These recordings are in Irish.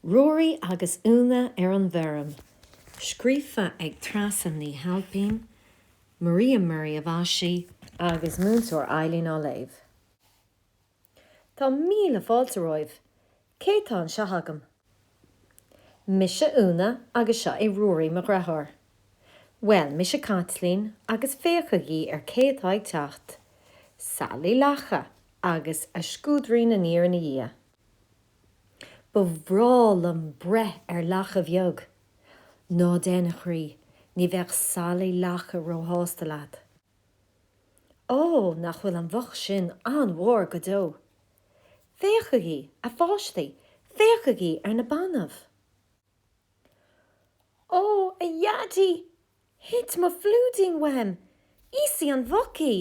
Ruairí agus Úna ar an bhFeirm, scríofa ag Treasa Ní Ailpín, Maria Murray a mhaisigh, agus Múinteoir Eileen á léamh Tá míle fáilte romhaibh! Cé tá anseo agam? Mise Úna agus seo é Ruairí mo dheartháir. Bhuel, mise Caitlín agus féachaigí cé atá ag teacht, Sally Lacha agus a scuaidín aniar ina diaidh. Ba bhreá liom breith ar lacha bheag. Ná déan, a chroí, ní bheadh Sally Lacha róshásta leat. Ó, nach bhfuil an mhuc sin an-mhór go deo! Féachaigí, a pháistí, féachaigí ar na bainbh! Ó, a Dhaidí, thit mo phlúidín uaim! Íosfaidh an mhuc í!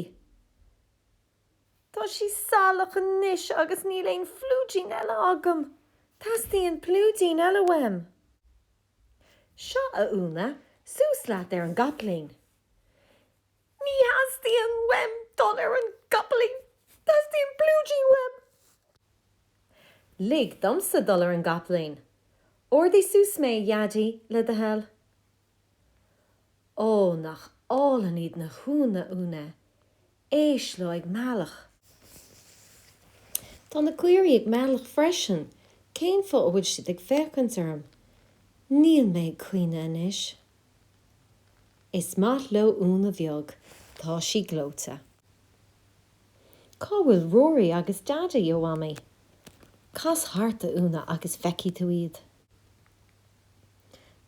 Tá sí salach anois agus níl aon phlúidín eile agam. Teastaíonn plúidín eile uaim. Seo, a Úna, suas leat ar an gcapaillín. Ní theastaíonn uaim dul ar an gcapaillín, teastaíonn plúidín uaim. Lig domsa dul ar an gcapaillín. Ardaigh suas mé, a Dhaidí, le do thoil. Ó, nach álainn iad na huain, Úna, éist leo ag méileach. Tá na caoirigh ag méileach freisin, cén fáth a bhfuil siad ag féachaint orm? Níl mé ag caoineadh anois. Is maith leo Úna bheag, tá sí gleoite. Cá bhfuil Ruairí agus Daidí, a Mhamaí? Cas thart, a Úna, agus feicfidh tú iad.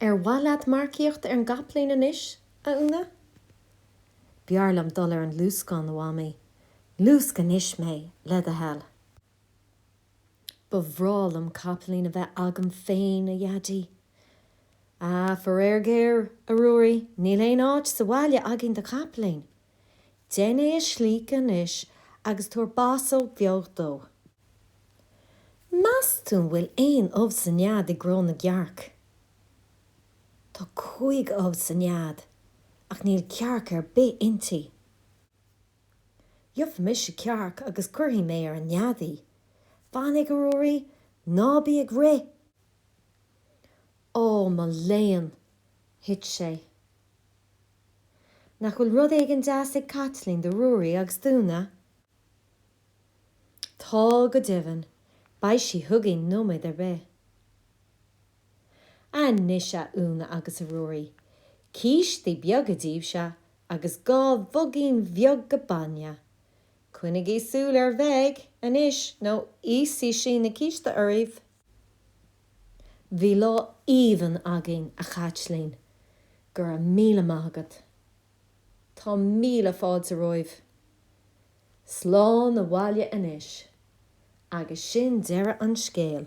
Ar mhaith leat marcaíocht ar an gcapaillín anois, a Úna? B'fhearr liom dul ar an luascán, a Mhamaí. Luasc anois mé, le do thoil. Ba bhreá liom capaillín a bheith agam féin, a Dhaidí. Ah, faraor géar, a Ruairí, níl aon áit sa bhaile againn do chapaillín. Déan é a shlíocadh anois agus tabhair bosóg bheag dó. Meas tú an bhfuil aon ubh sa nead i gcró na gcearc. Tá cúig ubh sa nead ach níl cearc ar bith inti. Gheobhaidh mise cearc agus cuirfidh mé ar an nead í. Fainic a Ruairí, ná bí ag rith. Ó, mo léan! thit sé. Nach bhfuil rud éigin deas ag Caitlín do Ruairí agus d'Úna? Tá go deimhin, beidh sí chugainn nóiméad ar bith. Anois a Úna agus a Ruairí, cístí beaga daoibhse agus dhá mhugaín bheaga bainne. Coinnigí súil ar Mheig anois nó íosfaidh sí na cístí oraibh. Bhí lá aoibhinn againn a Chaitlín, go raibh míle maith agat. Tá míle fáilte romhaibh. Slán abhaile anois agus sin deireadh an scéil.